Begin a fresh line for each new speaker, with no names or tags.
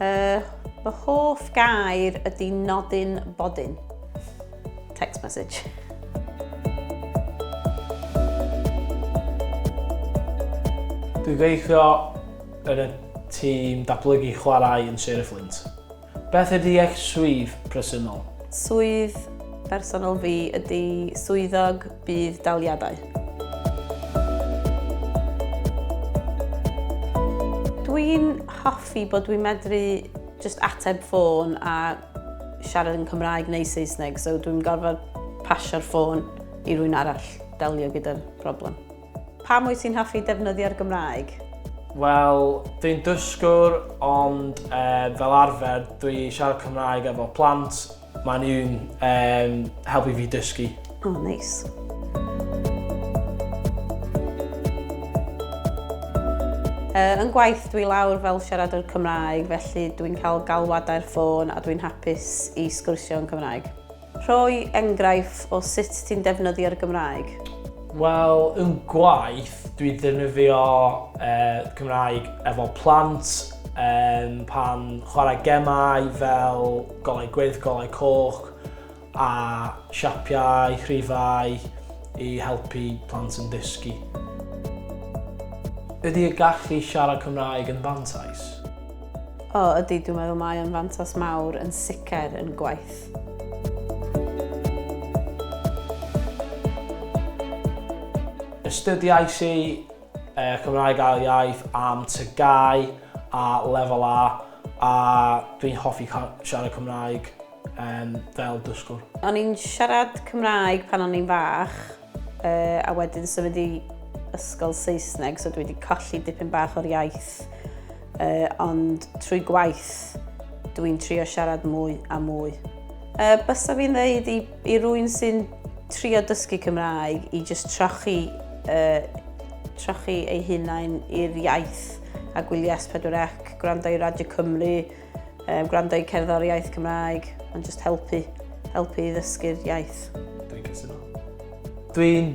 Uh,
fy hoff gair ydy nodyn bodyn. Text message.
Dwi'n gweithio yn y tîm datblygu chwarae yn Sir y Fflint. Beth ydy eich swydd presennol? Swydd
bersonol fi ydy swyddog bydd daliadau. Dwi'n hoffi bod dwi'n medru just ateb ffôn a siarad yn Cymraeg neu Saesneg, so dwi'n gorfod pasio'r ffôn i rwy'n arall delio gyda'r problem. Pa mwy ti'n hoffi defnyddio'r Gymraeg? Wel,
dwi'n dysgwr, ond e, fel arfer dwi siarad Cymraeg efo plant Mae nhw'n um, helpu fi dysgu. O, oh, neis.
Nice. Uh, yn gwaith dwi lawr fel siaradwr Cymraeg, felly dwi'n cael galwadau'r ffôn a dwi'n hapus i sgwrsio yn Cymraeg. Rhoi enghraifft o sut ti'n defnyddio'r Gymraeg? Wel,
yn gwaith, dwi ddefnyddio uh, Cymraeg efo plant, um, pan chwarae gemau fel Golau gwyrdd, golau coch a siapiau, rhifau i helpu plant yn dysgu. Ydy y gallu i siarad Cymraeg yn fantais? O,
ydy, dwi'n meddwl mae o'n fantais mawr yn sicr yn gwaith.
Astudiais i Yy Cymraeg ail iaith am TGAU a lefel A a dwi'n hoffi ca- siarad Cymraeg yym fel dysgwr. O'n i'n siarad
Cymraeg pan o'n i'n fach yy a wedyn symud i ysgol Saesneg so dwi 'di colli dipyn bach o'r iaith yy ond trwy gwaith dwi'n trio siarad mwy a mwy. Yy bysa fi'n ddeud i I rwy'n sy'n trio dysgu Cymraeg i jyst trochi, uh, trochi ei hunain i'r iaith a gwylio S4C, gwrando i Radio Cymru, um, gwrando i cerddoriaeth Cymraeg, ond jyst helpu, helpu i ddysgu'r iaith. Dwi'n cytuno.
Dwi'n